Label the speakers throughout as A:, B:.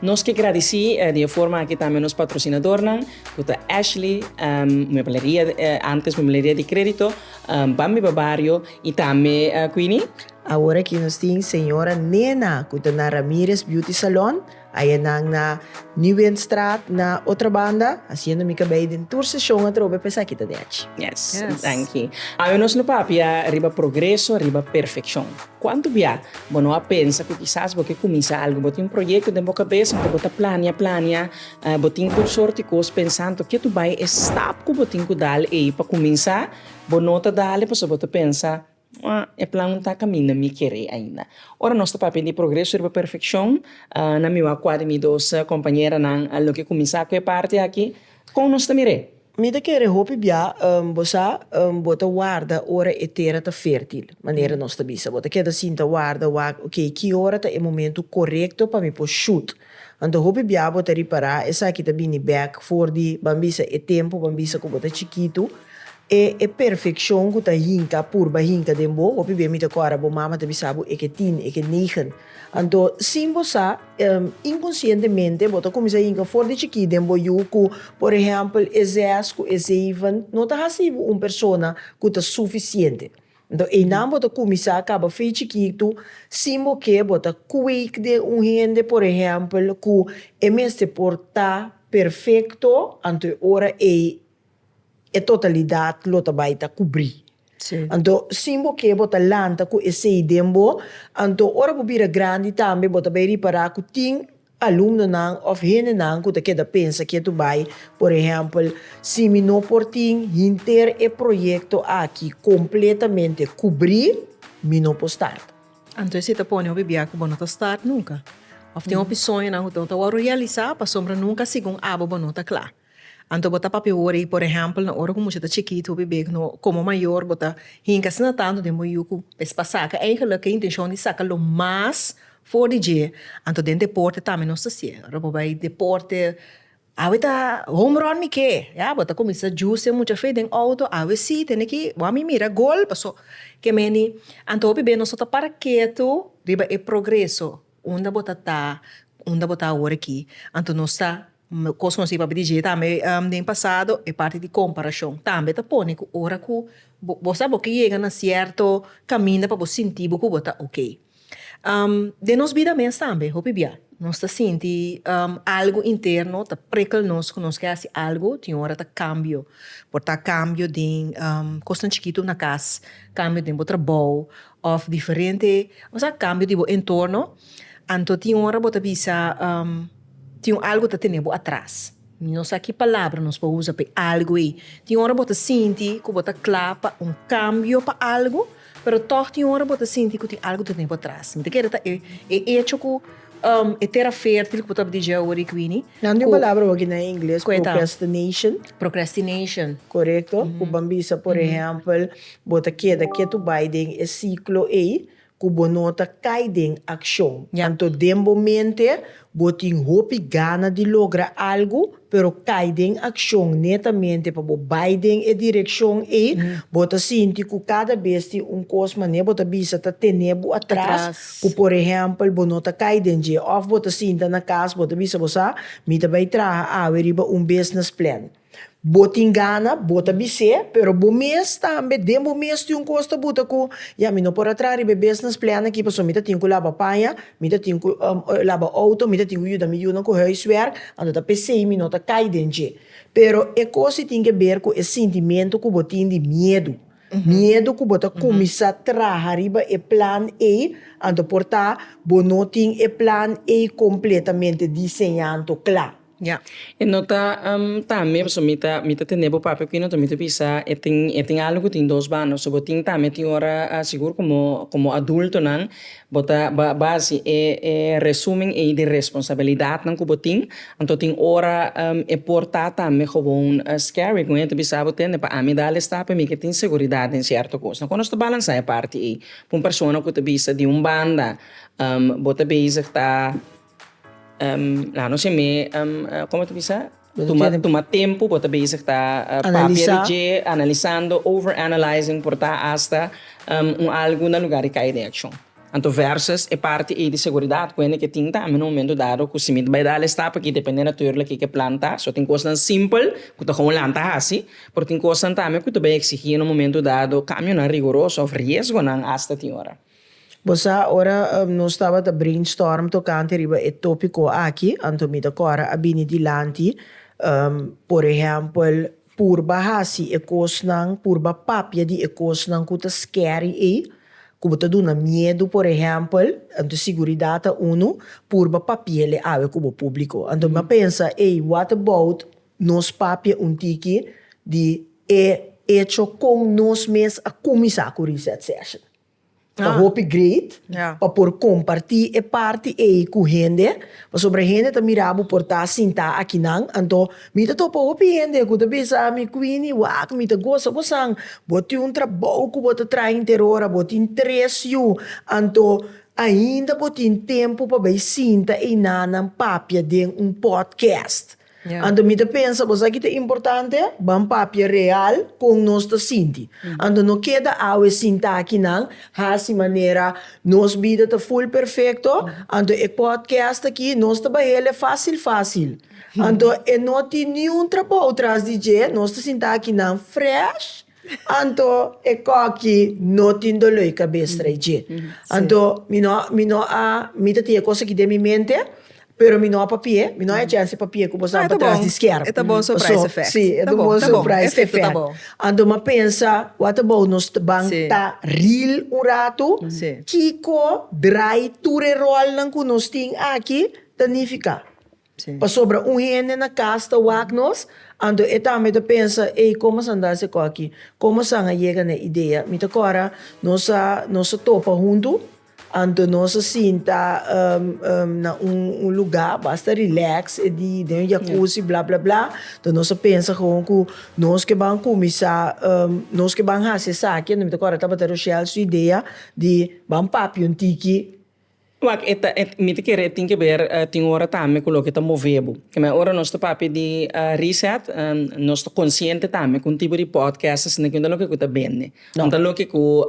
A: Nos ke gradici di e forma aki tambe nos patrocinadornan cu ta Ashley Muebleria, antes Muebleria di Credito, Bambi pa Barrio y tambe Queenie. Awor aki nos tin Señora Nena cu ta na Ramirez Beauty Salon, aya nan na Nieuwenstraat na otra banda, haciendo mi cabei den tur session atrobe pesaki ta den achi. Yes, danki. Awe nos lo papia riba progreso riba perfeccion. Cuanto bia. Bo no a pensa cu kisas bo ke cuminsa algu. Bo tin un proyecto den bo cabeza cu bo ta planea, planea. Bo tin tur sorti cos pensando ke tu bay e stap cu bo tin cu dal ey pa cuminsa. Bo no ta dale pasobra bo ta pensa, Mah, e plan no ta caminda mi kere ainda. Ora nos ta papia di progreso riba perfeccion, nan mi wak cua di mi dos compañeranan loke cuminsa cu e parti aki. Con nos ta mir'e? Mi ta kere hopi bia, bo sa, bo ta warda ora e tera ta fertil, manera nos ta bisa. Bo ta keda sinta warda, wak, ok, ki ora ta e momentu korekto pa mi por shut? Anto hopi bia bo ta ripará esaki ta bini bèk for di, ban bisa, e tempu, ban bisa ku bo ta chikitu. E e perfekshon ku ta hinka, purba hinka den bo. Hopi bia mi ta kòrda bo mama ta bisa bo, e ke tin, e ke negen. Anto, sin bo sa, inkonsientemente bo ta kuminsá yinka for di chikí den bo yu ku, por ehèmpel, e zes ku e zeven no ta hasi bo un persona ku ta sufisiente. Anto, einan bo ta kuminsá kaba fe chikitu sin bo ke bo ta kwik den un hende, por ehèmpel, ku e mester por ta perfekto, anto e ora ei, e totalidat lo ta bai ta kubrí. Anto sin bo ke bo ta lanta ku esei den bo, anto ora bo bira grandi tambe bo ta bai ripará ku tin alumnonan òf hendenan ku ta keda pensa ke tu bai, por ehèmpel, si mi no por tin hinter e proyekto aki kompletamente kubrí, mi no por start. Anto esei ta pone hopi biaha ku bo no ta start nunka. Òf tin hopi soñonan ku ta wòrdu realisá pasobra nunka segun abo bo no ta kla. Anto bo ta papia wori i por ehèmpel na ora ku mucha ta chikit hopi bek no komo mayor bo ta hinka asina tantu den bo yu ku es pa saka eigenlik ke intenshon di saka lo mas for di dje anto den deporte tambe nos ta hasié ora bo bai deporte awe ta home run mi ke ya bo ta kuminsa jusi e mucha feet den outo awe si tene ki bo a mi mira gol paso ke meni anto hopi bek nos no ta para ketu riba e progreso. Unda bo ta ta, unda bo ta awor aki, anto nos sa kos nos i papia di dje tambe den pasado, e parti di komparashon tambe ta pone ku ora ku bo sa bo ke yega na sierto kaminda pa bo sinti bo ku bo ta ok. Den nos bida mes tambe hopi bia nos ta sinti algu interno ta prekel nos ku nos ke hasi algu, tin ora ta kambio, por ta kambio den kosnan chikitu na kas, kambio den bo trabou Of diferente osea cambio di bo entorno, anto tin ora bo ta bisa tin un algo ta tene bo atras. No sa ki palabra nos por usa p'e algo ei. Tin ora bo ta sinti cu bo ta cla pa un cambio pa algo, pero tog tin ora bo ta sinti cu tin algo ta tene bo atras. Mi ta kere ta e hecho cu. E tera fertil ku bo tabata dije awor i Queenie. Nan di un palabra hogi na ingles, procrastination. Procrastination. Korekto, ku ban bisa por ehèmpel bo ta keda ketu bai den e siklo ei ku bo no ta kai den akshon. Anto den bo mente bo tin hopi gana di logra algu, pero cay den accion netamente pa bo bay den e direccion ey, bo ta sinti cu cada bes tin un cos manera bo ta bisa ta tene bo atras, cu por ehempel bo no ta cay den dje, of bo ta sinta na cas bo ta bisa bo sa, mi ta bay traha awe riba un business plan, bo tin gana bo ta bis'e, pero bo mes tambe den bo mes tin un cos ta buta cu, ya mi no por a traha riba e business plan aki pasobra mi ta tin cu laba paña, Mi ta tin cu laba auto, mi ta tin cu yuda mi yunan cu huiswerk, anto ta pesey mi no ta cay den dje. Pero e cosi tin que ber cu e sintimento cu bo tin di miedu. Miedu cu bo ta cuminsa traha riba e plan ey, anto por ta bo no tin e plan ey completamente diseñanto cla. Ya. E no ta tambe pasobra mi ta mi ta tende bo papia cu e no ta mi ta bisa e tin e tin algo cu tin dos banda so bo tin tambe tin ora sigur como como adultonan bo ta ba ba haci e e resumen ey di responsabilidadnan cu bo tin anto tin ora e por ta tambe gewoon scary cu e ta bisa bo tende pa ami dal e stap pa mi ke tin seguridad den cierto cosnan cu nos ta balansa e parti ey cu un persona cu ta bisa di un banda bo ta bezig ta Nos e mei como ta bisa? Tuma tempu bo ta bezig ta papia di dje, analisando, over analyzing por ta hasta un algo na lugar di kai den accion. Anto versus e parti ei di seguridad cu hende ke tin tambe na un momento dado cu si mi ta bay dal estap aki depende naturlig ki ke plan ta. So tin cosnan simpel cu ta holan'd ta haci, pero tin cosnan tambe cu ta bay exigi na un momento dado cambionan rigoroso of riesgonan hasta tin ora. Bo sa, ora nos tabata brainstorm tocante riba e topico aki, anto mi ta cora a bini dilanti, por ehempel, purba haci e cosnan, purba papia di e cosnan cu ta scary ey, cu bo ta duna miedu, por ehempel, anto siguridad ta uno, purba papiele awe cu bo publico. Anto mi a pensa, ey, what about nos papia un tiki di e hecho con nos mes a cuminsa cu reset session? Ta hopi great pa por kompartí e parti ei ku hende, pasobra hende ta mira bo por ta sintá aki nan. Anto mi ta topa hopi hende ku ta bisa ami, Queenie, wak, mi ta gosa bosan, bo tin un trabou ku bo ta traha interora, bo tin tres yu, anto ainda bo tin tempu pa bai sinta einan nan papia den un podcast. Anto mi ta pensa bo sa ki ta importante, ban papia real kon nos ta sinti. Anto no keda awe sin taki nan hasi manera nos bida ta ful perfekto, anto e pòdkèst aki nos ta bahel'e fásil fásil. Anto e no tin niun trabou tras di dje, nos ta sinta aki nan fresh Anto e koki no tin doló i kabes trae dje. Anto mi no mi no a mi ta tin e kos aki den mi mente, pero mi no a papi'é, mi no a echa hasi papi'é ku bo sa pa tras di skier. E ta bon surprise effect. Paso, si, e ta bon surprise effect. Anto m'a pensa, wak ta bou nos ban ta ril un ratu, kiko drai tur e rolnan ku nos tin aki ta nifiká? Pasobra un hende na kas ta wak nos, anto e tambe ta pensa, Ei, komo sa nda se koki? Komo san a yega na e idea? Mi ta kora, nos a nos a topa huntu, anto nos a sinta na un un lugá basta rilèks e di den un yakusi bla bla bla, anto nos a pensa gewoon ku nos ke ban kuminsá nos ke ban hasi esaki, anto mi ta kora tabata Rochelle su idea di ban papia un tiki. Wak e ta mi ta kere e tin ke ber tin ora tambe ku loke ta move bo kima ora nos ta papia di reset nos ta konsiente tambe ku un tipo di podcast asina ku inda loke ku ta bende no ta loke ku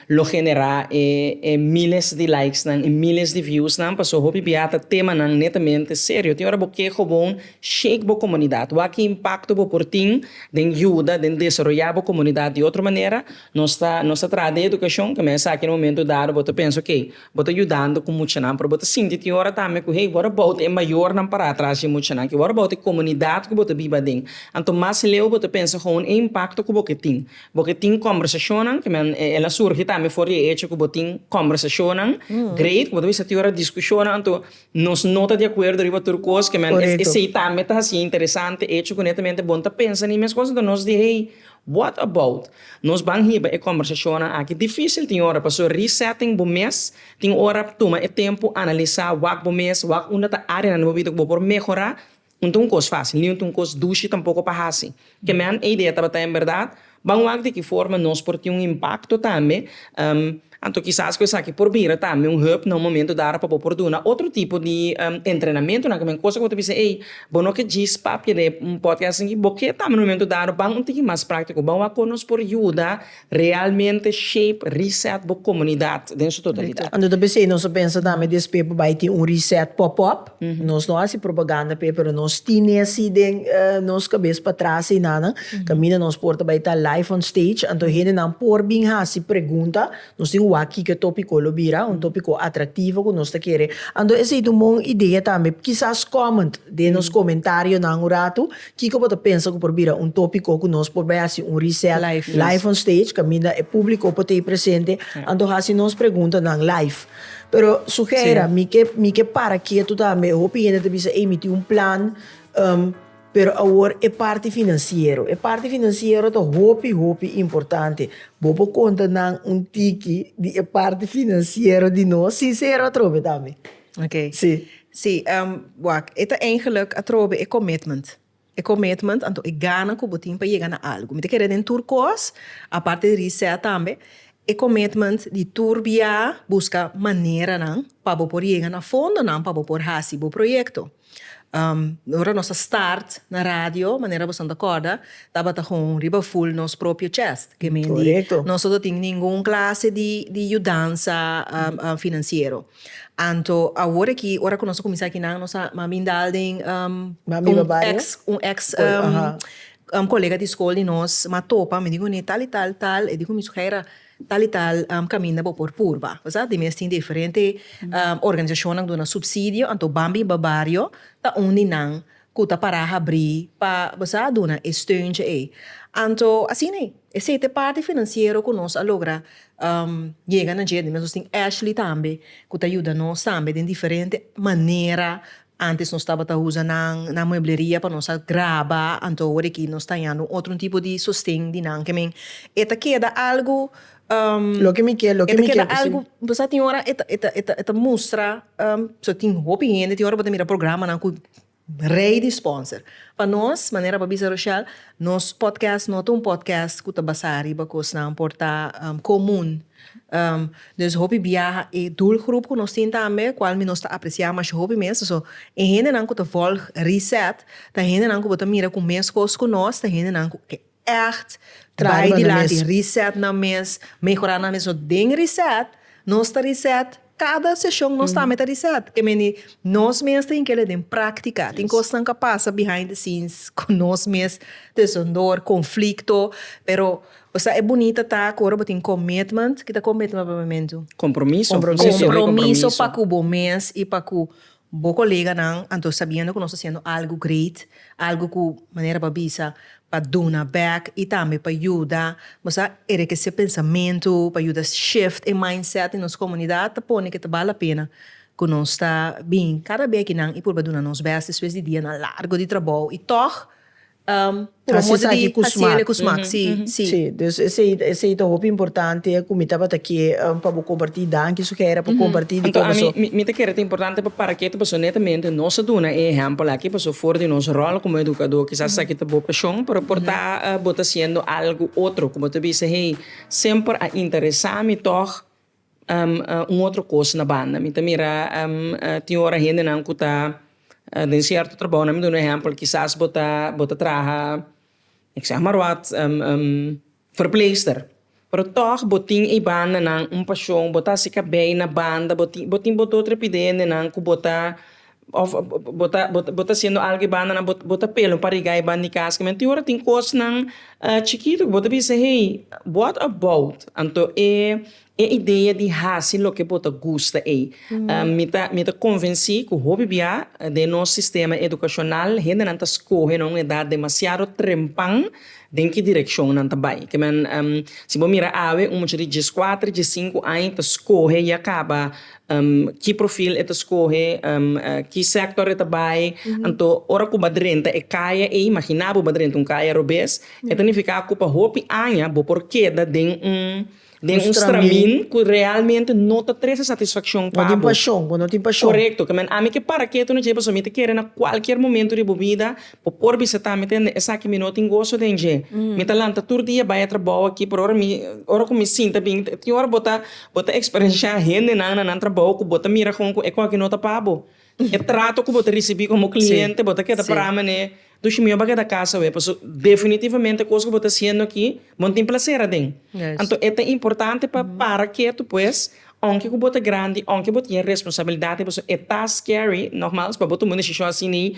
A: lo genera e miles di likes nan e miles di views nan pasobra hopi bia ta temanan netamente serio tin ora bo ke gewoon shake bo komunidat wak ki impakto bo por tin den yuda den desaroya bo komunidat di otro manera Nos ta nos ta traha den edukashon ke mester esaki na momentu dado bo ta pensa oke bo ta yudando ku muchanan pero bo ta sinti tin ora tambe ku hey bo ta bou ta e mayornan para atras di e muchanan ke bo ta bou ta e komunidat ku bo ta biba den anto mas leu bo ta pensa houn e impakto ku bo ke tin bo ke tin kòmbersashonnan ke men e el a surgi tambe for di e echo ku bo tin kòmbersashonnan great ku bo ta bisa tin ora diskushonnan anto nos no ta di akuerdo riba tur kos kemen esei tambe ta hasi interesante e echo ku netamente bon ta pensa na e mes kos anto nos di hey What about? Nos ban hiba e kòmbersashonnan aki difísil tin ora, pasobra resetting bo mes tin ora tuma e tempu analisá wak bo mes, wak unda ta áreanan den bo bida ku bo por mehorá. No ta un kos fásil, ni no ta un kos dushi tampoko pa hasi. Ke men e idea tabata en bèrdat, ban wak di ki forma nos por tin un impakto tambe. Anto kisas ku esaki por bira tambe un hub na un momento dado pa bo por duna otro tipo di entrenamentunan ku men kos ku bo ta bisa ey bo no ke djis papia den e podcast aki bo ke tambe na un momento dado ban un tiki mas praktiko ban wak kon nos por yuda realmente shape reset bo komunidat den su totalidat. Anto ta bisa ey nos ta pensa tambe despues por bai tin un reset pop-up Nos no hasi propaganda p'e pero nos tin esi den nos kabes pa tras einanan kaminda nos por ta bai ta live on stage anto hendenan por bin hasi pregunta nos tin wak kiko topiko lo bira un topiko atraktivo ku nos ta kere anto esei ta un bon idea tambe kisas comment den nos komentarionan un ratu kiko bo ta pensa ku por bira un topiko ku nos por bai hasi un reset live on stage kaminda e publiko por ta ei presente anto hasi nos preguntanan live. Pero sugera, mi ke mi ke para ketu tambe. Hopi hende ta bisa, ei, mi tin un plan, um, pero awor e parti finansiero. E parti finansiero ta hopi, hopi importante. Bo por konta nan un tiki di e parti finansiero di nos, sinsero atrobe tambe. Okay. Sí. Sí, um, wak, e ta eigenlijk atrobe e commitment. E commitment, anto e gana cu bo tin pa yega na algo. Mi ta kere den tur cos, aparte di reset tambe, e commitment di tur bia busca maneranan pa bo por yega na fondonan pa bo por haci bo proyecto. Ora nos a start na radio, manera boso ta corda, tabata con riba full nos propio chest. Ke mendi nos no ta tin ningun clase di yudansa financiero. Anto awor aki ora ku nos a kuminsá aki nan nos a minda al den un ex kolega di skol di nos a topa mi di kuné tal i tal tal e di ku mi su Heira tal i tal kaminda bo por purba pasá di mes tin diferente organisashonnan duna supsidio anto ban biba bario ta un di nan ku ta pará habrí pa bo sa duna e steuntje ei. Anto asina esei ta e parti finansiero ku nos a logra yega na dje. Nos also tin Ashley tambe ku ta yuda nos tambe den diferente manera. Ántes nos tabata usa nan na muebleria pa nos a graba, anto awor aki nos ta hañando un otro tipo di sosten di nan. Ke men, e ta keda algu, Loke mi ke, loke mi ke, sí. Algu, bo sa tin ora e ta mustra tin hopi hende tin ora bo ta mira programanan ku Rei di sponsor. Pa nos, manera pa bisa Rochelle, nos podcast no ta un podcast cu ta basá riba cosnan por ta comun. Dus hopi biaha e doelgroep cu nos tin tambe, cual mi nos ta apreciá masha hopi mes. So, e hendenan cu ta volg Reset ta hendenan cu bo ta mira cu mes cos cu nos, ta hendenan cu. ègt bai di la di reset nan mes, mehorá nan mes. So den reset, nos ta reset kada seshon nos ta me ta reset. Ke meni nos mes tin kere den práktika. Tin kosnan ka pasa behind the scenes ku nos mes desondor, konflikto, pero sa e bunita ta ku ora bo tin commitment, kita commitment pa bo mentu? Kompromiso. Kompromiso pa ku bo mes i pa ku Bo koleganan, anto sabiendo ku nos ta hasiendo algu great, algu ku manera bo a bisa pa duna bèk i tambe pa yuda nos a erekesé pensamentu, pa yuda shift e mindset di nos komunidat, ta pone ke ta bal la pena ku nos ta bin kada bèkinan i purba duna nos bes despues di dianan largu di trabou. I tòg Promo di hasiel e ku smak. Sí, sí. Sí, dus esei, esei ta hopi importante ku mi tabata ke pa bo kompartí. Danki su Gera pa kompartí di kos aso. Anto mi ta kere ta importante pa para ketu paso netamente nos a duna e ehèmpel aki paso for di nos ròl komo edukadó kisas esaki ta bo pashon pero por ta bo ta hasiendo algu otro ku bo ta bisa hey semper a interesá mi tòg Un otro cos na banda mi ta mira tin ora hendenan cu ta den cierto trabao, nan mi duna un ehempel kisas bo ta bo ta traha ik zeg maar wat verpleegster pero tog bo tin e bandanan un pasion bo ta hasi cabei na banda bo tin bo tin bo dor trepideendenan cu bo ta of bo ta bo ta haciendo algo y banda nan bo ta pelon pa riga e banda di casa kimin tin ora tin cosnan chikito ku bo ta bisa hey what about anto e idea di haci loke bo ta gusta ey mi ta mi ta convenci ku hopi bia den nos sistema educacional hendenan ta scoge nan un edad demasiado trempan den ki direccion nan ta bay kimin si bo mira awe un muchachi di diescuatro diescinco aña ta scoge ya caba Ki profil e ta skohe, ki sector e ta bai, anto ora ku bo drenta e kaya ei, imagina bo bo drenta un kaya robes, e ta nifiká ku pa hopi aña bo por keda den un den un stramin ku realmente no ta trese satisfakshon pa bo. Korekto, ke men ami ke paraketu na djei pasobra mi ta kere na kualkier momentu di bo bida Bo por bisa ta, Mi ta hende esaki, mi no tin goso den dje. Mi ta lanta tur dia bai a trabou aki, pero ora mi, ora ku mi sinta bin, tin ora bo ta, bo ta eksperenshá hendenan na nan trabou ku bo ta mira kon ku e koki no ta pa bo. E trato ku bo ta risibí komo kliente, bo ta keda pra manera e, Dushi, mi no ba keda kasa awe, pasobra definitivamente e kos ku bo ta hasiendo aki, bo no tin plaser aden. Anto e ta importante pa para ketu, pues. Aunke ku bo ta grandi, aunke bo tin e responsabilidad di bo so, e ta scary, nogmals, pa bo tuma un decision asina ei,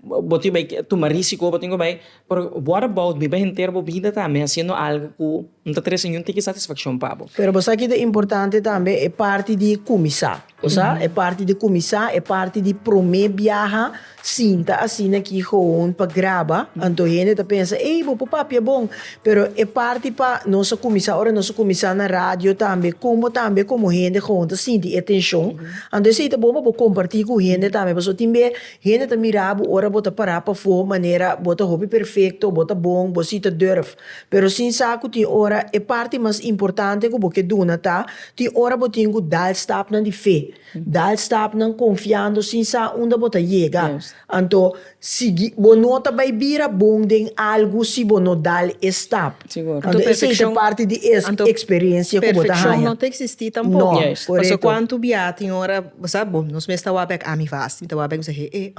A: bo tin bay tuma risico, bo tin ku bay, pero what about biba henter bo bida tambe haciendo algo ku no ta trese ningun tiki satisfaccion pa bo? Pero bo sa kiko importante tambe? E parti di kuminsá. Osa e parti di kuminsá, e parti di promé biaha sinta asina ki gewoon pa graba, anto hende ta pensa, ey, bo por papia bon. Pero e parti pa nos a kuminsá, ora nos a kuminsá na radio tambe, kon bo tambe komo hende gewoon ta sinti e tenshon. Anto esei ta bon pa bo kompartí ku hende tambe, pasobra tin be hende ta mirá bo ora bo ta pará pafó manera bo ta hopi perfekto, bo ta bon, bo sí ta dùrf. Pero sin sa ku tin ora e parti mas importante ku bo ke duna ta tin ora bo tin ku dal stapnan di fe, dal stapnan konfiando sin sa unda bo ta yega. Anto si bo no ta bai bira bon den algu si bo no dal e stap. Anto esei ta parti di e eksperensia ku bo ta haña. Perfekshon no ta eksistí tampoco. Paso kuantu bia tin ora bo sa bo nos mes ta wak bek ami fásil ta wak bek misa he he.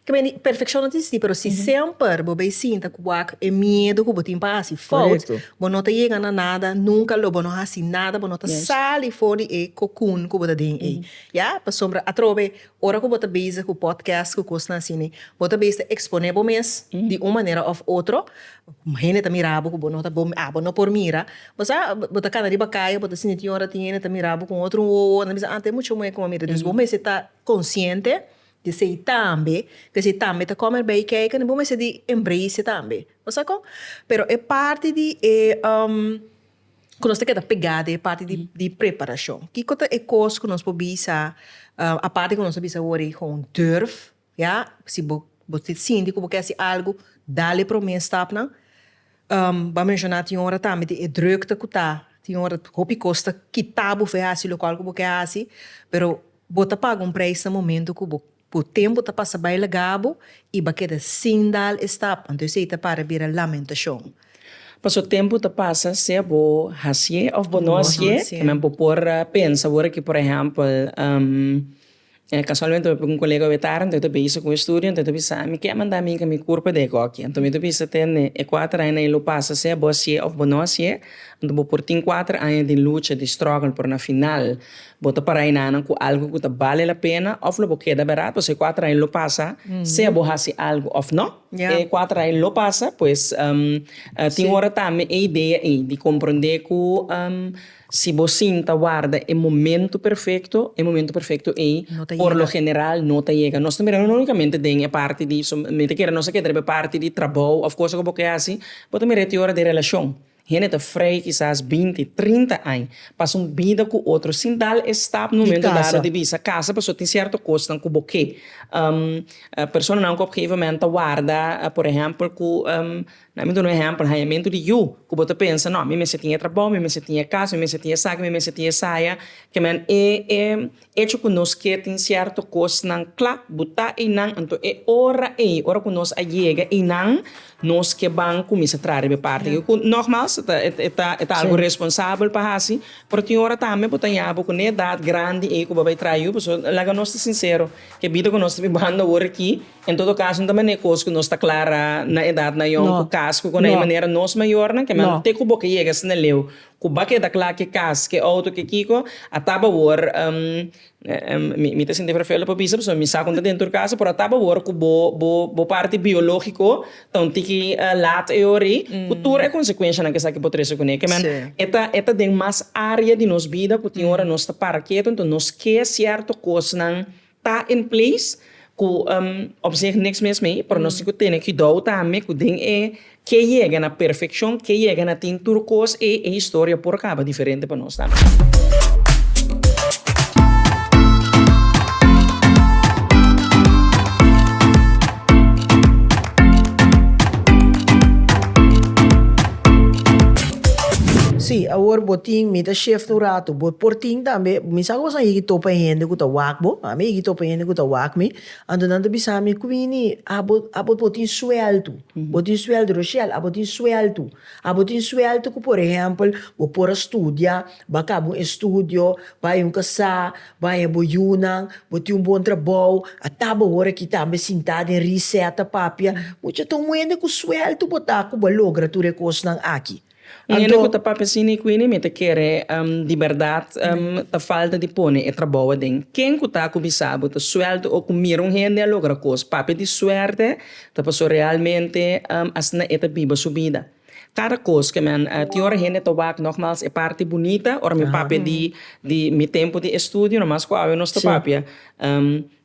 A: Ke meni, perfekshon no ta esistí, pero si semper bo bai sinta ku wak e miedu ku bo tin pa hasi fout, bo no ta yega na nada nunka, lo bo no hasi nada, bo no ta sali for di e kokun ku bo ta den ei. Ya, pasobra atrobe ora ku bo ta bezig ku podcast ku kosnan asina, bo ta bes ta eksponé bo mes di un manera òf otro, hende ta mira bo ku bo no ta bon, a bo no por mira, bo sa, bo ta kana riba kai, bo ta sinti tin ora tin hende ta mira bo ku un otro wowo, nan bisa, ah te mucha muhé ku a mira, dus bo mester ta konsiente. Esei tambe, cu esei tambe ta come erbei kijken, bo mester di embrace e tambe. Bo sa con? Pero e parti di e cu nos ta keda pega di e parti di preparacion. Kico ta e cos cu nos por bisa, aparte cu nos a bisa awor e gewoon durf, ya, si bo sinti cu bo ke hasi algo, dal e prome stapnan. Bo a menciona tin ora tambe di e drukte cu ta, tin ora hopi cos ta kita bo for e hasi locual cu bo ke hasi, pero Bo ta paga un prijs na momento cu bo cu tempo ta pasa bay lagabo y ba keda sin dal e stap, anto esey ta para bira lamentacion. Paso tempo ta pasa sea bo hacié of bo no hacié, tambe bo por pensa awor cu por ehempel, casualmente bo pega un colega wey tarde anto e ta bezig cu e estudio anto e ta bisa ami ke a manda mi cami curpa de agoki, anto mi ta bisa tende e cuater aña na e lo pasa sea bo hacié of bo no hacié, anto bo por tin cuater aña di lucha di struggle pero na final. Bo ta para enanan ku algu ku ta bale la pena òf lo bo keda berat? Pasobra e kuater aña lo pasa, sea bo hasi algu òf nò. E kuater aña lo pasa, pues tin ora tambe e idea ei di komprondé ku si bo sinta warda e momentu perfekto, e momentu perfekto ei por lo general no ta yega. Nos ta mira no únikamente den e parti di, mi ta kere nos ta keda riba e parti di trabou òf kos ku bo ke hasi, bo ta mira e te ora di relashon. Hende ta frei kisas binti, trinta aña pas un bida ku otro sin dal e stap na un momento dado di bisa kasa pasobra tin sierto kosnan ku bo ke. Personanan ku op gegeven moment ta warda por ehèmpel ku na mi duna un ehèmpel hañamentu di yu ku bo ta pensa no mi mester tin e trabou, mi mester tin e kas, mi mester tin esaki, mi mester tin esaya, kiaman e Echo cu nos ke tin cierto cosnan cla, bo ta eynan, anto e ora ey, ora cu nos a yega eynan, nos ke ban cuminsa traha riba e parti aki, cu nogmaals, e ta algo responsabel pa haci, pero tin ora tambe bo ta yaha bo cu ne edad grandi ey cu bo a bay traha yu, pasobra laga nos ta sincero, ke bida cu nos ta bibando awor aki, en todo caso no ta manera e cos cu nos ta clara na edad nayon, cu cas, cu cona, y manera nos mayornan, ke manera te cu bo ke yega asina leu, Ku ba keda kla ke kas, ke outo, ke kiko a tap awor, mi ta sinti ferfelu pa bisa pasobra mi sa kon ta den tur kasa, pero a tap awor ku bo bo bo parti biológiko ta un tiki lat e ora ei ku tur e konsekuenshanan ke esaki por trese kuné. Keman e ta e ta den mas área di nos bida ku tin ora nos ta para ketu, enton nos ke sierto kosnan. ta in place ku op sih niks mes mei pero nos tin ku tene kidou tambe ku den e ke yega na perfekshon ke yega na tin tur kos e e historia por kaba diferente pa nos tambe. Si awor bo tin mi ta shift un ratu. Bo por tin tambe, mi sa ku boso a higi topa e hende ku ta wak bo, ami a higi topa e hende ku ta wak mi, anto nan ta bisa mi, Quini, abo, abo por tin sueltu, bo tin sueltu, Rochel, abo tin sueltu, abo tin sueltu ku por ehèmpel bo por a studia, bai kaba un estudio, bai a un kasá, bai a hel bo yunan, bo tin un bon trabou, a tabata hora aki tambe sintá den risè ta papia, mucha ta un hende ku sueltu bo ta ku bo a logra tur e kosnan aki. Un hende ku ta papia sin e kuini mi ta kere di bèrdat ta falta di pone e trabou aden. Ken ku ta ku bisa bo ta suèlti o ku mira un hende a logra kos papia di suerte ta pasó realmente asina e ta biba su bida. Kada kos ke mi tin ora hende ta wak nogmals e parti bunita ora mi papia di mi tempu di estudio no mas ku awe nos ta papia.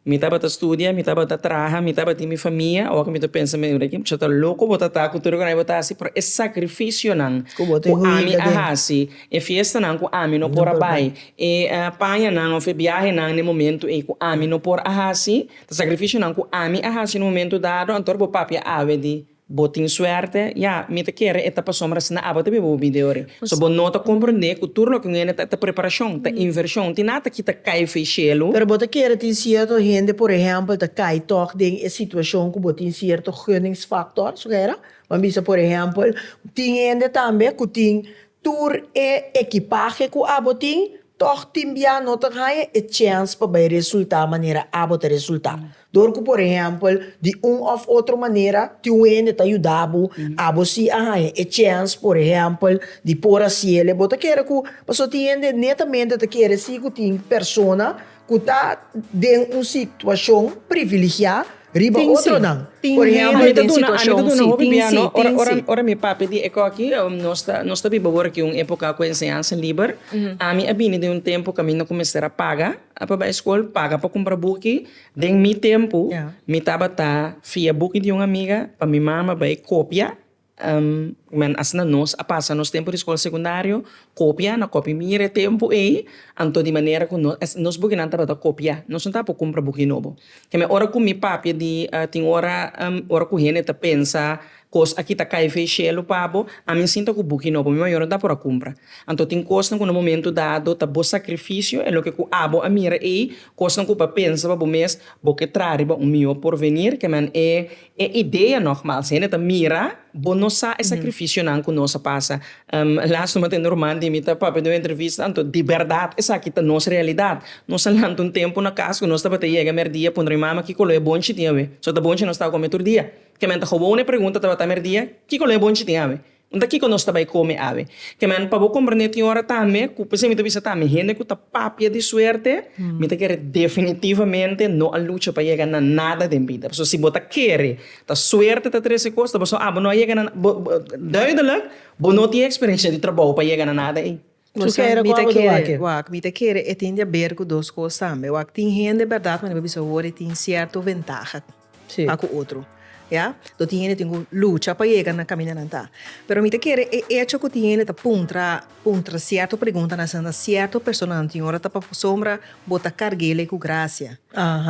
A: Mi tabata studia, mi tabata traha, mi tabatin mi famia, awor cu mi ta pensa mi tabata aki, cu ta loco bo ta ta cu tur e cosnan bo ta haci, pero e sacrificionan cu ami a haci, e fiestanan cu ami no por a bay, e pañanan of e biahenan na e momento ey cu ami no por a haci, ta sacrificionan cu ami a haci na e momento dado, anto bo papia awe di. Bo tin suerte, ya, mi ta kere e tapa sombra sna abo ta biba bo bida yori. So bo no ta comprende cu tur loke un hende ta ta preparacion, ta inversion. Tin nada ta kita cay fey cielo. Pero bo ta kere tin cierto hende, por ehempel, ta cay toch den e situacion cu bo tin cierto gunningsfactor, su hera? Bo bisa, por ehempel, tin hende tambe cu tin tur e ekipahe cu abo tin, toch tin bia no ta haya e chens pa bay resulta manera abo ta resulta. Dor ku por ehèmpel, di un òf otro manera tin un hende ta yuda bo, abo si a haña e chèns, por ehèmpel, di por a siele, bo ta kere ku, pasobra tin hende netamente ta kere si ku tin persona ku ta den un situashon priviligiá riba otronan. Por ehèmpel, den situashon. Tin, si, tin, si, tin, si. Ora mi papia di Ekoki, nos ta nos ta biba awor aki un époka ku enseñansa liber. Ami a bini den un tempu ku ami no ku mester a paga. A pa bai skol paga pa kumpra buki. Den mi tempu mi tabata fia buki di un amiga pa mi mama bai kopia men asina nos a pasa nos tempu di skol sekundario kopia na kopi mira e tempu ei anto di manera ku no es nos bukinan tabata kopia nos no tabata por kumpra buki nobo te me ora ku mi papia di tin ora ora ku hende ta pensa Kos aki ta kai fei shelu pa bo, ami sinta ku buki nobo mi mayor no ta por a kumpra. Anto tin kosnan ku na momentu dado ta bo sakrifisio, e loke ku abo a mira ei, kosnan ku bo a pensa pa bo mes, bo ke traha riba un mihó porvenir, ke men e e idea nogmals hende ta mira bo no sa e sakrifisionan ku nos a pasa. Lastu mi a tende un ruman di mi ta papia di un entrevista, anto di bèrdat esaki ta nos realidat. Nos a lanta un tempu na kas ku nos tabata yega mèrdia puntra mi mama kiko lo e bonchi tin awe, so ta bonchi nos tabatin kome tur dia. Ke men ta gewoon e pregunta tabata merdia, Kiko lo e bonchi tin awe? No ta kiko nos ta bai kome awe. Ke men pa bo komprendé tin ora tambe ku p'esei mi ta bisa tambe hende ku ta papia di suerte mi ta kere definitivamente no a lucha pa yega na nada den bida. Pasobra si bo ta kere ta suerte ta trese kos ta bo sa bo no a yega na bo duidelijk bo no tin e eksperensia di trabou pa yega na nada ei. Cu kere cu abo do aki? Wak, mi ta kere e tin di a ber cu dos cos tambe. Wak, tin hende berdad cu anda bisa awor e tin cierto ventaha pa cu otro. Ya? Lo tin hende tin cu lucha pa yega na caminda nan ta. Pero mi ta kere e hecho cu tin hende ta puntra, puntra cierto pregunta na asina cierto personanan tin ora ta pa bo sombra, bo ta cargele cu gracia.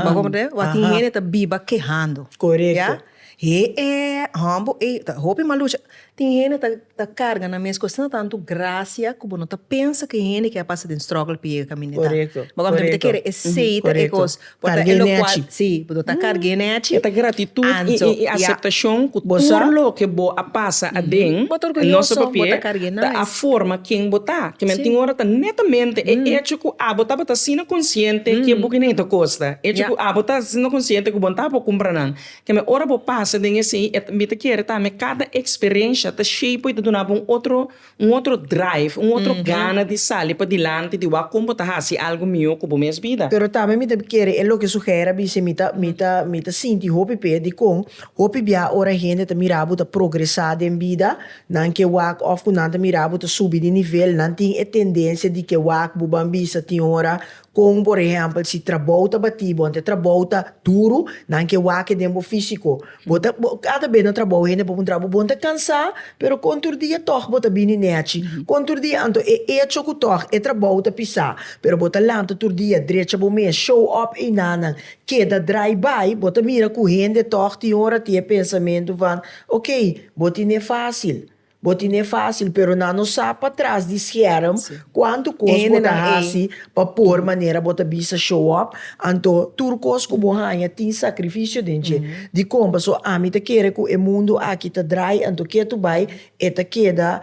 A: Bo a comprende? Wak, tin hende ta biba kehando. Ya? He'e, hombo ei ta hopi malucha. Tin hende ta ta karga nan mes kos, tin tantu grasia ku bo no ta pensa ku e hende ke a pasa den strògel pa yega kamineta. Korekto, korekto. Bo ta kere e seita, e Korekto. kos. Bo ta Karg'é elo kual, nèchi. si, bo ta karg'é nèchi. E ta gratitut i Anto, i i ya. aseptashon ku Bo sa? tur loke bo a pasa aden, Bo ta orguyoso, no sa bo papié, ta karg'é ta a nais. forma ken bo ta. Ke men Si. tin ora ta netamente e echo ku abo tabata asina konsiente ke buki nen ta kosta. Echo Ya. ku abo ta asina konsiente ku bo no tabata por kumpra nan. Keme ora bo pasa den esei e ta mi ta kere tambe kada eksperensha ta shapeo i ta duna bo un otro un otro drive un otro gana di sali padilanti di wak kon bo ta hasi algu mihó ku bo mes bida. Pero tambe mi ta kere e loke su Hera bis'e mi ta mi ta mi ta sinti hopi p'e dikon hopi bia ora hende ta mira bo ta progresá den bida nan ke wak òf ku nan ta mira bo ta subi di nivel nan tin e tendensia di ke wak bo ban bisa tin ora Kon por ehèmpel si trabou ta batí bo, anto e trabou ta duru, nan ke wak den bo físiko. Bo ta bo kada bes nan trabou hende por un trabou bon ta kansá, pero kon tur dia tòg bo ta bini nèchi, kon tur dia anto e echo ku tòg e trabou ta pisá, pero bo ta lanta tur dia drecha bo mes, show up einanan, keda drai bai, bo ta mira ku hende tòg tin ora tin e pensamentu van, Okey, bo tin e fásil. Bo tine fásil, pero nan no sa pa tras di scherm kuantu kos bo ta hasi pa por manera bo ta bisa show up. Anto tur kos ku bo haña tin sakrifisio den dje. Dikon? Paso ami ta kere ku e mundu aki ta drai, anto ke tur bai e ta keda,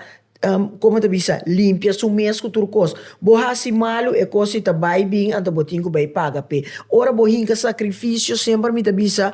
A: komo ta bisa, limpia su mes ku tur kos. Bo hasi malu, e kos i ta bai bin, anto bo tin ku bai paga p'e. Ora bo hinka sakrifisio, semper mi ta bisa,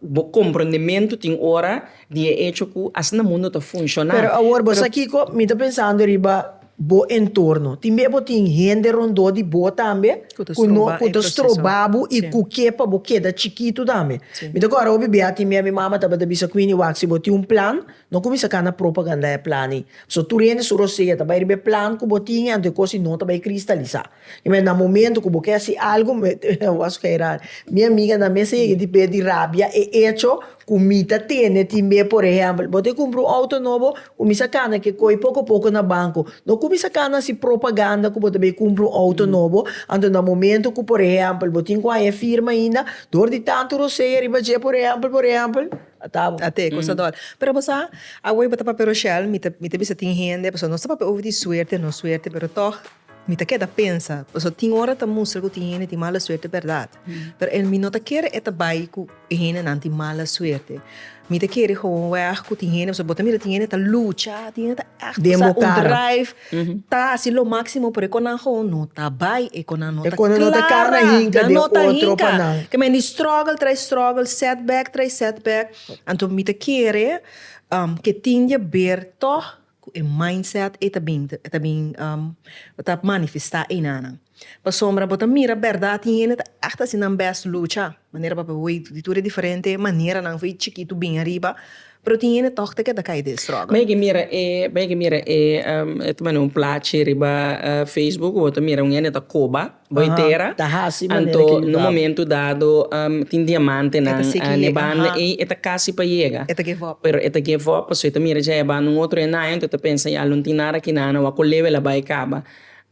A: Bo comprondementu tin ora di e hecho cu asina mundo ta funciona. Pero awor bo sa kico? Mi ta pensando riba bo entorno. Tin bia bo tin hende rondó di bo tambe cu no, cu ta stroba bo y cu ke pa bo keda chikitu tambe. Mi ta kora hopi bia tin bia mi mama tabata bisa Queenie, Wak, si bo tin un plan, no cuminsa cana propaganda e plan ei. Pasobra tur hende su rosea ta bay riba e plan cu bo tin y anto e cos ei no ta bay cristalisa. Imagen na momento cu bo ke haci algo was ke rai mi amiga nan mester yega di p'e di rabia e hecho cu mi ta tene tin be por ehempel bo ta cumpra un auto nobo cuminsa cana ke coy poco poco na banco no cuminsa cana haci propaganda cu bo ta bay cumpra un auto nobo anto na momento cu por ehempel bo tin cu haña e firma ainda door di tanto rosea riba dje por ehempel por ehempel atabo. Ata e cosa dor pero bo sa awor bo ta papia rochel mi ta bisa tin hende pasobra no ta papia over di suerte no suerte pero tog. Mi ta keda pensa, pasobra tin ora ta mustra ku tin hende tin mala suerte bèrdat. Pero e mi no ta kere e ta bai ku e hendenan tin mala suerte. Mi ta kere hòwòwèg ku tin hende, pasobra bo ta mira tin hende ta lucha, tin hende ta ègt Den bo kara. sa un drive, ta hasi lo máksimo, pero e kònnan gewoon no ta bai, e kònnan no ta klara. E kònnan no ta kara na hinka den otro panan. Nan no ta hinka. Kèmen di strògel tras strògel, sètbèk tras sètbèk. Anto mi ta kere ke tin diaber tòg. Ku e mindset ei ta bin ta bin um ta manifestá einanan. Pasobra bo ta mira bèrdat tin hende ta ègt hasi nan bèst lucha manera papia bo wei di tur e diferente maneranan for e chikitu bin ariba pero tin hende tòg ta keda kai den strògel. Bo ke mira e bo ke mira e um e ta manda un plachi riba Facebook ku bo ta mira un hende ta koba Bay tera, anto na un momento dado tin diamantenan n'e banda ey, e ta casi pa yega, pero e ta give up pasobra e ta mira dje e banda un otro henayo, enton e ta pensa ya lo no tin nada aki nana, wak cu lewe el a bay caba.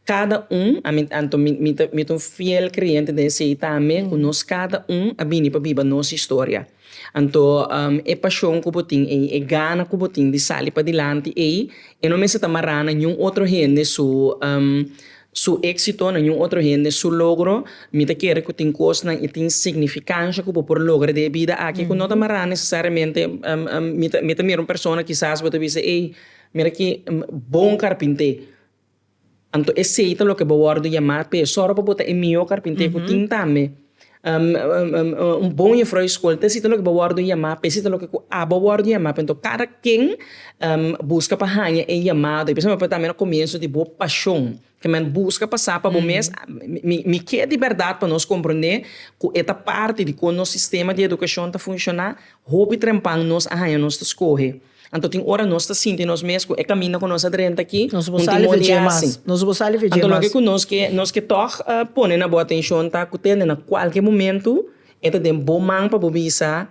A: Cada un, I mean, anto mi, mi ta, mi ta un fiel creyente den esey tambe, cu nos cada un a bini pa biba nos historia. Anto, e pashon ku bo tin ei, e gana ku bo tin di sali padilanti ei, e no mester ta mará na niun otro hende su su éksito, na niun otro hende su logro. Mi ta kere ku tin kosnan i tin signifikansha ku bo por logra den e bida aki ku no ta mará nesesariamente. Mi ta mi ta mira un persona kisas bo ta bisa, ei, mira aki bon karpinté. Anto esei ta loke bo wòrdu yamá pa e sòru pa bo ta e mihó karpinté ku tin tambe. un bon jufrou di skol ta esei ta loke bo wòrdu yamá, pa esei ta loke ku abo wòrdu yamá. Anto kada ken buska pa haña e yamado. I pasobra tambe na komienso di bo pashon. Te men buska pa sa pa bo mes, mi ke di bèrdat pa nos komprondé ku e ta parti di kon nos sistema di edukashon ta funshoná, hopi trempan nos a haña nos ta skohe. Anto tin ora nos ta sinti nos mes ku e kaminda ku nos a drenta aki un timonia asin. Anto loke ku nos ke nos ke tòg pone na bo atenshon ta ku tende na kualke momentu e ta den bo man pa bo bisa,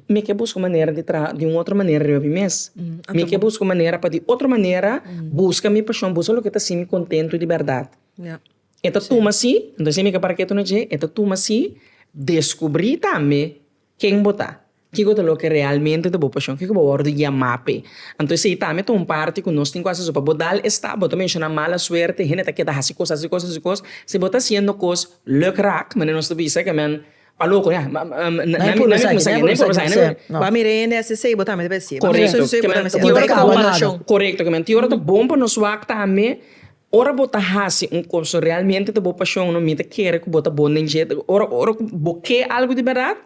A: Mi ke buska un manera di traha di un otro manera riba mi mes. Mi ke buska un manera pa di otro manera buska mi pashon, buska loke ta hasin mi kontentu di bèrdat. E ta tuma si, anto asina mi ke para ketu na dje, e ta tuma si deskubrí tambe Ken bo ta? Kiko ta loke realmente ta bo pashon? Kiko bo a wòrdu yamá p'e? Anto esei tambe ta un parti ku nos tin ku hasi so pa bo dal e stap. Bo ta menshoná mala suerte, hende ta keda hasi kos, hasi kos, hasi kos. Si bo ta hasiendo kos lùkrak, manera nos ta bisa ke men a loko ya, nan mi purba sa aki, nan mi purba sa aki, nan mi purba sa aki. Ba mir'e hende hasi esei, bo tambe debe hasi e. Korekto, ke men ti ora ta bon pa nos wak tambe. Ora bo ta hasi un kos ku realmente ta bo pashon, mi ta kere ku bo ta bon den dje. Ora, ora ku bo ke algu di bèrdat,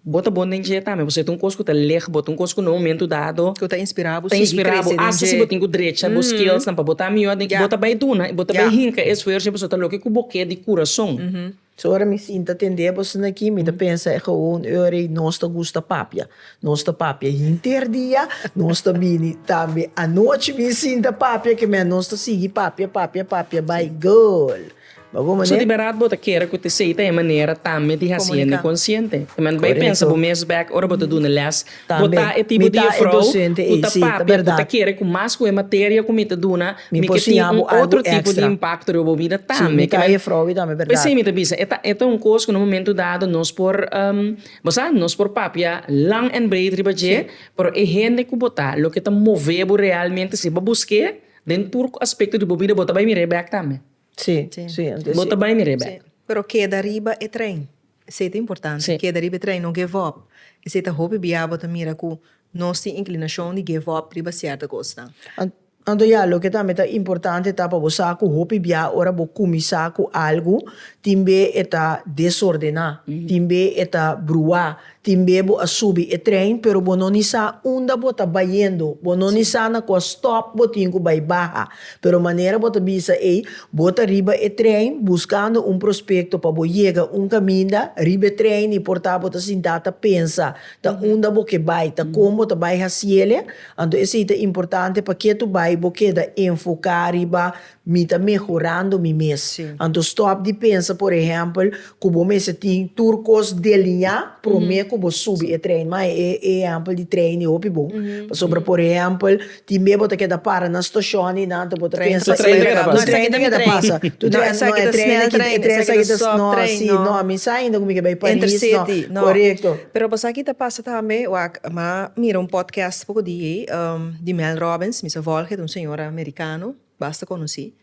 A: bo ta bon den dje tambe, pasobra e ta un kos ku ta lèg bo, ta un kos ku na un momentu dado, ta inspirá bo asta si bo tin ku drecha bo skillsnan pa bo ta mihó den. Bo ta bai duna i bo ta bai hinka e esfuersonan pasobra ta loke ku bo ke di kurason. So ora mi sinta tende boso na ki mi ta pensa e gewoon ora ei nos ta gusta papia nos ta papia hinter dia nos ta bini tambe anochi mi sinta papia kimen nos ta sigui papia papia papia bai girl ba bo mané. So di berat bo ta kere ku Tesei ta e manera tambe di hasiende konsiente kimen bai pensa bo mes bek ora bo ta duna les Bo ta e tipo di jufrouw cu ta papia, cu ta kere cu mas cu e materia cu mi ta duna, mi ke tin un otro tipo di impacto riba bo bida tambe. P'esei mi ta bisa, e ta e ta un cos cu na un momento dado nos por, bo sa, nos por papia lang en breed riba dje, pero e hende cu bo ta, loke ta move bo realmente si bo busqu'é den tur aspecto di bo bida, bo ta bay mir'é bek tambe. Bo ta bay mir'é bek. Pero keda riba e trein. Esei ta importante, keda riba e tren, no give up. Esei ta hopi bia bo ta mira ku nos tin inklinashon di give up riba sierto kosnan. Anto ya, loke tambe ta importante ta pa bo sa ku hopi bia ora bo kuminsá ku algu, tin be e ta desordená, tin be e ta bruá, tin be bo a subi e tren pero bo no ni sa unda bo ta bayendo, bo no ni sa na kua stop bo tin ku bai baha. Pero manera bo ta bisa ei, bo ta riba e trein buskando un prospekto pa bo yega un kaminda riba e trein i por ta bo ta sintá ta pensa ta unda bo ke bai, ta kon bo ta bai hasiele. Anto esei ta importante pa ke tu bai bo keda enfoká riba mi ta mehorando mi mes. Anto stòp di pensa, por ehèmpel, Ku bo mester tin tur kos deliñá promé ku bo subi e trein. Mai e ehèmpel di trein i hopi bon. Pasobra por ehèmpel, tin bia bo ta keda para na stashon i nan ta bo ta pensa se tur tren ta keda pasa. Tur tren no e tren aki, e tren sa ki ta no si, no mi sa ainda ku mi ke bai Paris no. Korekto. Pero bo sa ki ta pasa tambe, wak m'a mira un podcast poko di ei di Mel Robbins, mi sa volg het un señora Merikano basta konosí.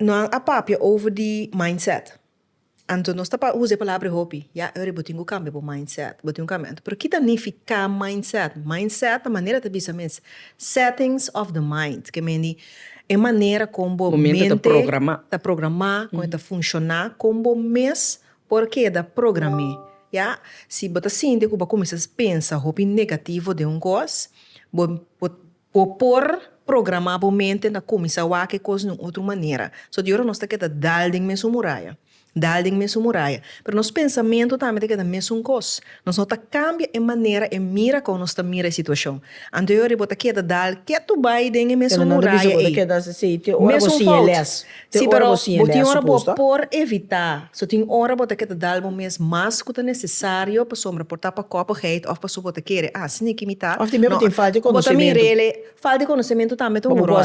A: Nan a papia over di mindset. Anto nos ta pa usa e palabra hopi. Ya Eury bo tin ku kambia bo mindset, bo tin ku kambia anto. Pero kita nifiká mindset? Mindset ta manera ta bisa mes settings of the mind, ke mendi e manera kon bo mente ta programá, kon e ta funshoná, kon bo mes por keda program'é. Ya si bo ta sinti ku bo a kuminsá pensa hopi negativo den un kos, bo Bo por programá bo mente na kuminsá wak e kos di un otro manera. So di ora nos ta keda dal den mesun muraya, dal den mesun muraya, pero nos pensamentu tambe ta keda mesun kos. Nos no ta kambia e manera, e mira kon nos ta mira e situashon. Anto e ora di bo ta keda dal ketu bai den e mesun muraya ei, mesun fout. Si pero bo tin ora bo por evitá, so tin ora bo ta ke ta dal bo mes mas ku ta nesesario pasobra por ta pa kòpigheid òf pasobra bo ta kere ah si niki mi ta Òf tambe bo tin falta di konosementu. Falta di konosementu tambe ta un ròl.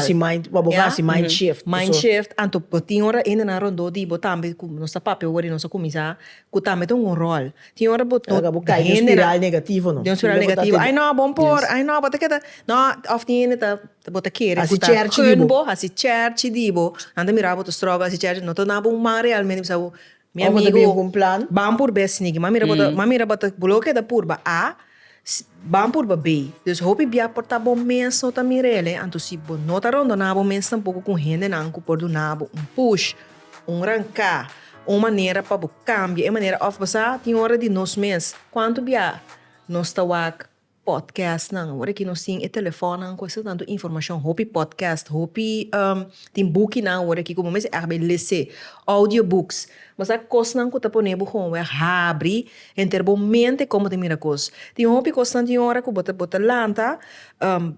A: Bo por hasi mind shift. Mind shift, anto bo tin ora hende nan rondó di bo tambe ku nos ta papia wòrdu i nos a kuminsá ku tambe ta un ròl. Tin ora bo no bo kai den un spiral negativo no. Den un spiral negativo ai no bo por ai no bo ta ke ta no òf tin hende ta Bo ta kere ku ta kun bo, hasi cherchi di bo. Nan ta mira bo ta struggle hasi cherchi, no ta na bo un man realmente bisa bo mi amigu ban purbe snigi man mira bo ta man mira bo ta bo lo ke ta purba a ban purba be. Dus hopi bia por ta bo mes no ta mirele anto si bo no ta rondona bo mes tampoko ku hendenan ku por duna bo un push, un ranka, un manera pa bo kambia e manera òf bo sa tin ora di nos mes kuantu bia nos ta wak podcastnan ora ki nos tin e telefonnan cu esta tanto informacion hopi podcast hopi tin bukinan ora ki como mester a haber lese audio books mas a cosnan cu ta pone bo hounweg habri henter bo mente como ta mira cos tin hopi cosnan tin ora cu bo ta bo ta lanta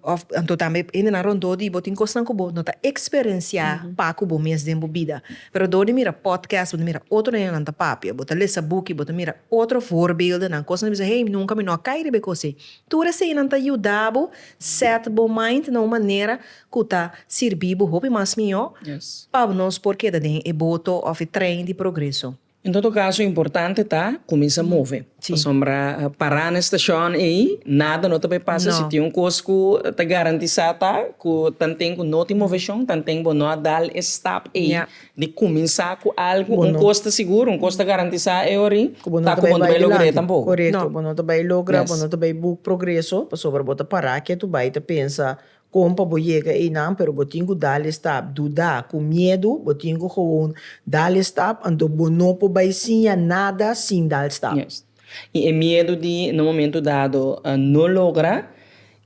A: of anto tambe hendenan rondor di bo tin cosnan cu bo no ta experencia paco bo mes den bo bida. Pero dor di mira podcast, bo ta mira otro nenenan ta papia, bo ta lesa buki, bo ta mira otro voorbeeldennan, kos nan bisa, hey, nunka mi no a kai riba e kos ei. Tur eseinan ta yuda bo set bo mind na un manera ku ta sirbi bo hopi mas mihó pa nos por keda den e boto òf e trein di progreso. En todo caso importante ta cuminsa move pasobra pará na estacion ey nada no ta bay pasa si tin un cos cu ta garantisa ta cu tanten cu no tin movesion tanten bo no a dal e stap ey di cuminsa cu algo un cos ta seguro un cos ta garantisa ey ori ta cu bo no ta bay logra tampoco corecto bo no ta bay logra bo no ta bay book progreso pasobra bo ta pará kiet tu bay ta pensa Kon pa bo yega einan, pero bo tin ku dal e stap. Dudá, ku miedu, bo tin ku gewoon dal e stap, anto bo no por bai siña nada sin dal stap. Yes. I e miedu di na un momentu dado no logra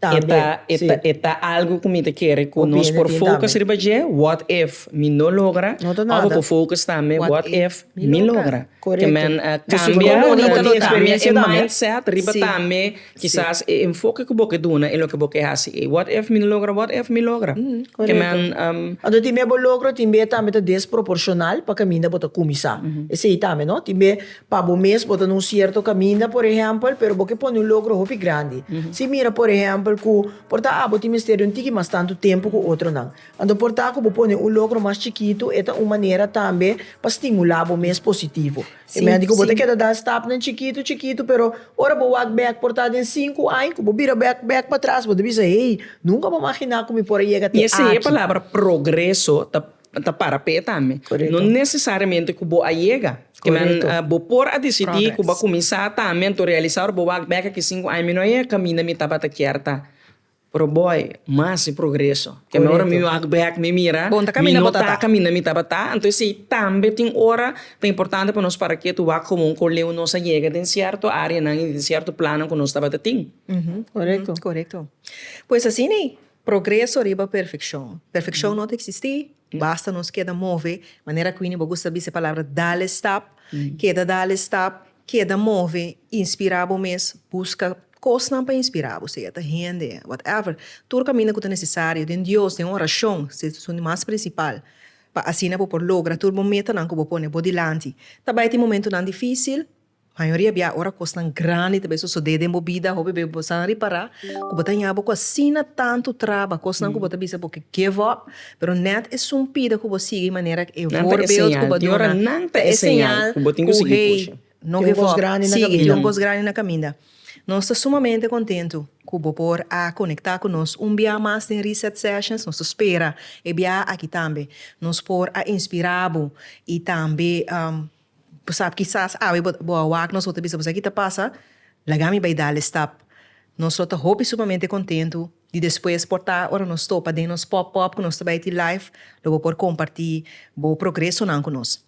A: e ta e ta algu ku mi ta kere ku nos por focus riba dje, what if mi no logra? Òf bo por focus tambe, what if mi logra? Ke men a kambia e mindset riba tambe. Kisas e enfoke ku bo ke duna i loke bo ke hasi ei, Wòt èf mi no logra? Wòt èf mi logra? Keman. Anto tin b'e bo logro tin b'e tambe ta desproporshonal pa kaminda bo ta kuminsá. Esei tambe no. Tin b'e pa bo mes bo ta na un sierto kaminda por ehèmpel, pero bo ke pone un logro hopi grandi. Si mira por ehèmpel ku por ta abo tin mester di un tiki mas tantu tempu ku otronan. Anto por ta ku bo pone un logro mas chikitu e ta un manera tambe pa stimulá bo mes positivo. E medico bo ta keda da stapnan chikitu chikitu pero ora bo wak bek por ta den sinku aña cu bo bira bek bek pa tras bo ta bisa hey nunca bo a magina cu mi por a yega te aki. Mester e palabra progreso ta para p'e tambe no necesariamente cu bo a yega bo por a dicidi cu bo a cuminsa tambe anto realisa ora bo wak bek aki sinku aña mi no a yega caminda mi tabata kier ta. Pero boy, mas e progreso. Teme ora mi wak bek mi mira, mi no ta kaminda mi tabata. Anto esei tambe tin ora ta importante pa nos para kiet wak komo un koleu nos a yega den sierto areanan i den sierto plannan ku nos tabata tin. Korekto. Pues asina ei, progreso riba perfekshon. Perfekshon no ta eksistí, basta nos keda move, manera ku Winnie bo gusta bisa e palabra dale stap, keda dale stap, keda move, inspirá bo mes, buska Kosnan pa inspirá bo, sea ta hende, whatever, tur kaminda ku ta nesesario, den Dios, den orashon, si es asuntu mas prinsipal, pa asina bo por logra tur bo metanan ku bo pone bo dilanti. Ta bai tin momentunan difísil, mayoria bia ora kosnan grandi ta bai sosodé den bo bida, hopi bes bo san ripará ku bo ta haña bo ku asina tantu traba, kosnan ku bo ta bisa bo ke give up, pero nèt e sumpida ku bo sigui manera e voorbeeld ku bo duna, nan ta e señal ku hei, No give up, sigui, tin un kos grandi na kaminda. Nos ta sumamente kontentu ku bo por a konektá ku nos un biaha mas den Reset Sessions. Nos ta spera e biaha aki tambe nos por a inspirá bo i tambe bo sab kisas awe bo a wak nos bo ta bisa bo sa ki ta pasa, laga mi bai dal e stap. Nos lo ta hopi sumamente kontentu di despues por ta ora nos topa den nos pòp-pòp ku nos ta bai tin live lo bo por kompartí bo progresonan ku nos.